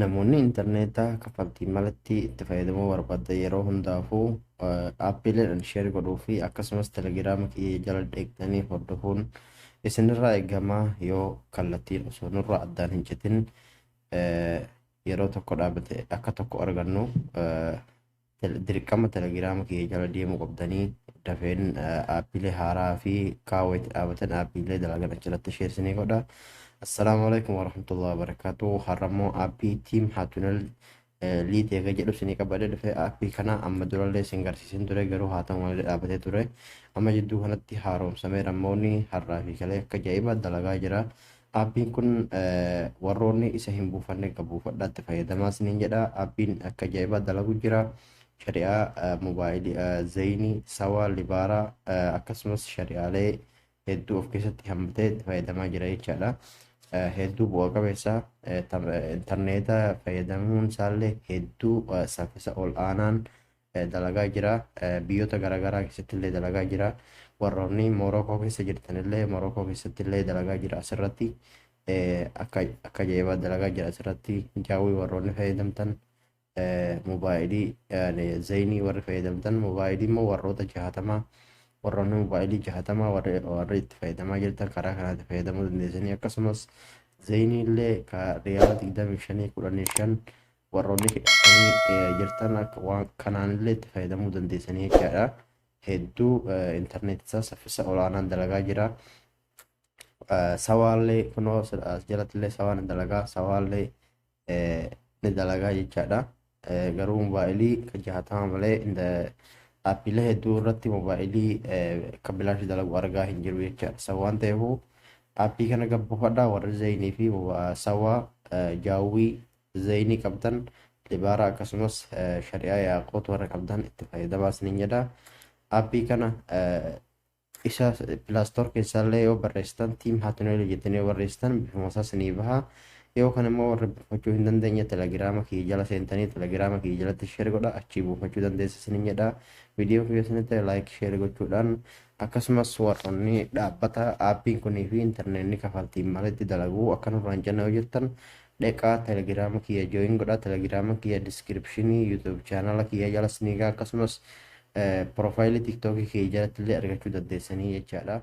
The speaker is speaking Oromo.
Namoonni intarneetaa kaffaltii malatti itti fayyadamuu barbaaddan yeroo hundaafuu aappiileedhaan sheer godhuu fi akkasumas telegiraama kiyya jala deegtanii hordofuun isinirraa eegamaa yoo kallattiin osoo nurraa addaan hin citin yeroo tokko dhaabate akka tokko argannu dirqama telegiraama kiyya jala deemuu qabdanii dafeen aappiilee haaraa fi kaawwa itti dhaabatan aappiilee dalagan achirratti isheessinii godha. Assalaamu alaikum warahmatullahi wabarakatuh. Har'a immoo aappii tiim haatunel liit eega jedhu isinii qabadee dhufe aappii kana amma durallee isin garsiisin ture garuu haa ta'u malee dhaabatee ture. Amma jidduu kanatti haaromsamee rammoonni har'aa fi kalee akka ajaa'iba dalagaa jira. Aappiin kun warroonni isa hin buufanne egaa buufadhaa itti fayyadamaa isiniin jedha. Aappiin akka ajaa'ibaa dalagu jira. Shari'aa mobaayilii zayinii, sawaa, libaaraa akkasumas shari'aalee hedduu of keessatti hammatee itti fayyadamaa jira jechaadha. Hedduu bu'a qabeessa intarneeta fayyadamuun isaallee hedduu saffisa ol aanaan dalagaa jira. Biyyoota garaagaraa keessatti illee dalagaa jira. Warroonni Moorookoo keessa jirtan illee Moorookoo keessatti illee dalagaa jira asirratti. Akka akka ajaa'ibaa dalagaa jira asirratti. Jaawwii warroonni fayyadamtan mobaayilii zayinii warri fayyadamtan mobaayilii immoo warroota jahatama warroonni mobaayilii jahatama warri warri itti fayyadamaa jirtan karaa kanaatti fayyadamuu dandeessanii akkasumas zayinii illee ka riyaala digdamii shanii kudhanii shan Warroonni hidhattanii jirtan akka waan kanaanillee itti fayyadamuu dandeessanii jechaadha. Hedduu intarneetii isaa saffisa olaanaan dalagaa jira. Sawaallee kunoo as jalattillee sawaa ni dalagaa sawaallee ni dalagaa jechaadha. Garuu moobaayilii kan jahatama malee dhaabbilee hedduu irratti moobaayilii kan bilaashi dalagu argaa hin jiru jechaadha. San waan ta'eefuu aappii kana gabbuufadhaa warri zayinii fi sawaa jaawwii Zaynii qabdan libaaraa akkasumas shari'aa yaaqoot warra qabdan itti fayyadamaa isiniin jedha. Aappii kana isa pilaastoor keessaallee yoo barreessitan tiim haatineelii jettanii yoo barreessitan bifuma isaa isinii baha. Yoo kan immoo warri buufachuu hin dandeenye telegiraama kiyya jala seentanii telegiraama kiyya jalatti sheer godha achii buufachuu dandeessu isiniin jedha. Viidiyoo kiyya isinitti ta'e laayik sheer gochuudhaan akkasumas warroonni dhaabbata aappiin kunii fi intarneetni kafaltiin malitti dalaguu akka nurraan jenna yoo jirtan dheqaa telegram kiyya join godha telegram kiyya description youtube channel kiyya jala siniga akkasumas profile tiktok kiyya jalatti illee argachuu dandeessanii jechaadha.